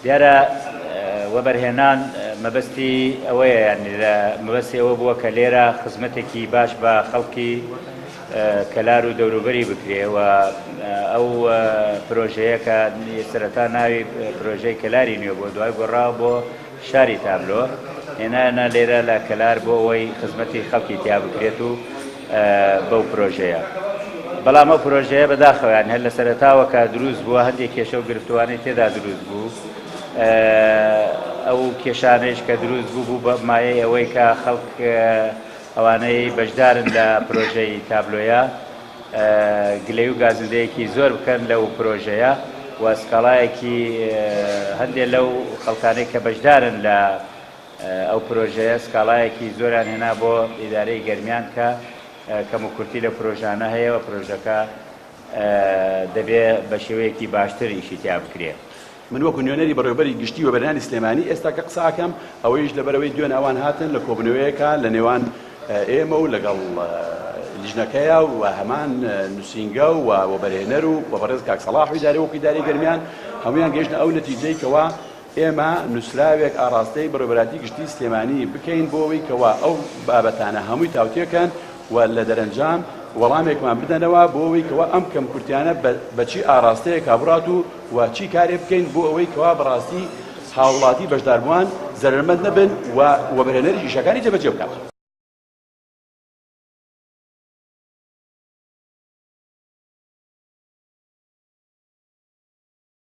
دیارە وەبەرهێنان مەبەستی ئەوەیە یعنی لە مەبەستی ئەوە بووە کە لێرە خزمەتێکی باش بە خەڵکی کەلار و دەوروبەری بکرێ و ئەو پرۆژەیە کە سەرەتا ناوی پرۆژەی کەلاری نوێ بۆ دوای گۆڕا بۆ شاری تابلۆ هێنایانە لێرە لە کەلار بۆ ئەوەی خزمەتی خەڵکی تیا بکرێت و بەو پرۆژەیە بەڵام ئەو پرۆژەیە بەداخەوەیان هەر لە سەرتاوە کە دروست بووە هەندێک کێشە و گرفتوانەی تێدا دروست بوو ئەو کێشانەیش کە دروست بوو بوو بە مایەی ئەوەی کە خەڵک ئەوانەی بەشدارن لە پرۆژەی تابلۆیە گلەیو گازندەیەکی زۆر بکەن لەو پرۆژەیە و سکاڵایەکی هەندێک لەو خەڵکانەی کە بەشدارن لە ئەو پرۆژەیە سکاڵایەکی زۆران هێنا بۆ ئیدارەی گەرمیان کە کەموکورتی لە پرۆژانە هەیە و پرۆژەکە دەبێ بە شێوەیەکی باشتر ئیشی تیا بکرێ. من وەکو نوێنەری بەڕێوەبەری گشتی وەبەرهێنانی سلێمانی ئێستاکە قسە ئەکەم، ئەوەیش لەبەرئەوەی دوێن ئەوان هاتن لە کۆبوونەوەیەکە لە نێوان ئێمە و لەگەڵ لیژنەکەیا و هەمان نووسینگە و وەبەرهێنەر و بە بەڕێز کاک سەڵاح و ئیدارەی وەکو ئیدارەی گەرمیان هەموویان گەیشتە ئەو نەتیجەی کەوا ئێمە نووسراوێک ئاڕاستەی بەڕێوەبەراتی گشتی سلێمانی بکەین بۆ ئەوەی کەوا ئەو بابەتانە هەمووی تاوتوێکەن و لە دەرەنجام وەڵامێکمان بدەنەوە بۆ ئەوەی کەوا ئەم کەمکورتیانە بە چی ئاڕاستەیەکا بڕات و و چی کارێ بکەین بۆ ئەوەی کەوا بەڕاستی هاوڵاتی بەشداربووان زەرەرمەند نەبن و وەبەرهێنەریش ئیشەکانی جێبەجێ بکات.